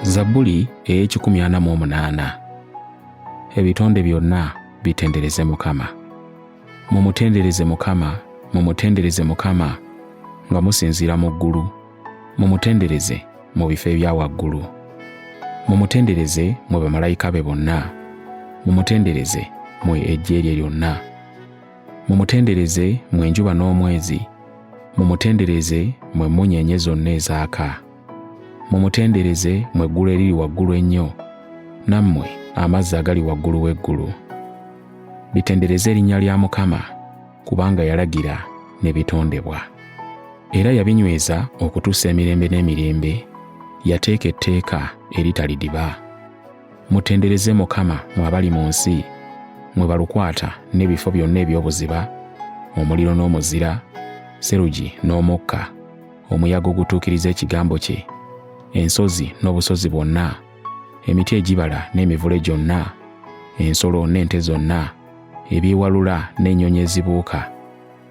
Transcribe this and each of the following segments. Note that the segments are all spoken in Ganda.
zabbuli ey'ekikumi ana mu omunaana ebitonde byonna bitendereze mukama mumutendereze mukama mumutendereze mukama nga musinziira mu ggulu mumutendereze mu bifo ebya waggulu mumutendereze mwe bamalayika be bonna mumutendereze mwe ejjeerye lyonna Mumutendereze mwe enjuba n'omwezi, mumutendereze mwe emmunyeenye zonna ezaaka. Mumutendereze mwe eggulu eriri waggulu ennyo, nammwe amazzi agali waggulu w'eggulu. Bitendereze erinnya lya Mukama, kubanga yalagira ne bitondebwa. Era yabinyweza okutuusa emirembe n'emirembe, yateeka etteeka eritalidiba. mutendereze mukama mwe abali mu nsi mwe balukwata n'ebifo byonna eby'obuziba omuliro n'omuzira serugi n'omukka omuyaga ogutuukiriza ekigambo kye ensozi n'obusozi bwonna emiti egibala n'emivule gyonna ensolo n'ente zonna ebyewalula n'ennyonyi ezibuuka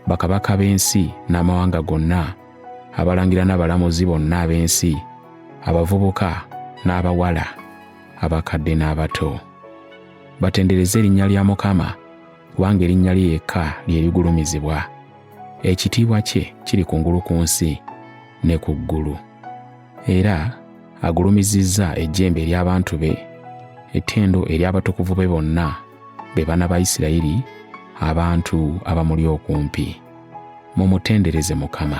bakabaka b'ensi n'amawanga gonna abalangira n'abalamuzi bonna ab'ensi abavubuka n'abawala abakadde n'abato batendereze erinnya lya mukama kubanga erinnya lye yekka lye ligulumizibwa ekitiibwa kye kiri kungulu ku nsi ne ku ggulu era agulumizizza ejjembe ery'abantu be ettendo ery'abatukuvu be bonna be bana ba isirayiri abantu abamuli okumpi mumutendereze mukama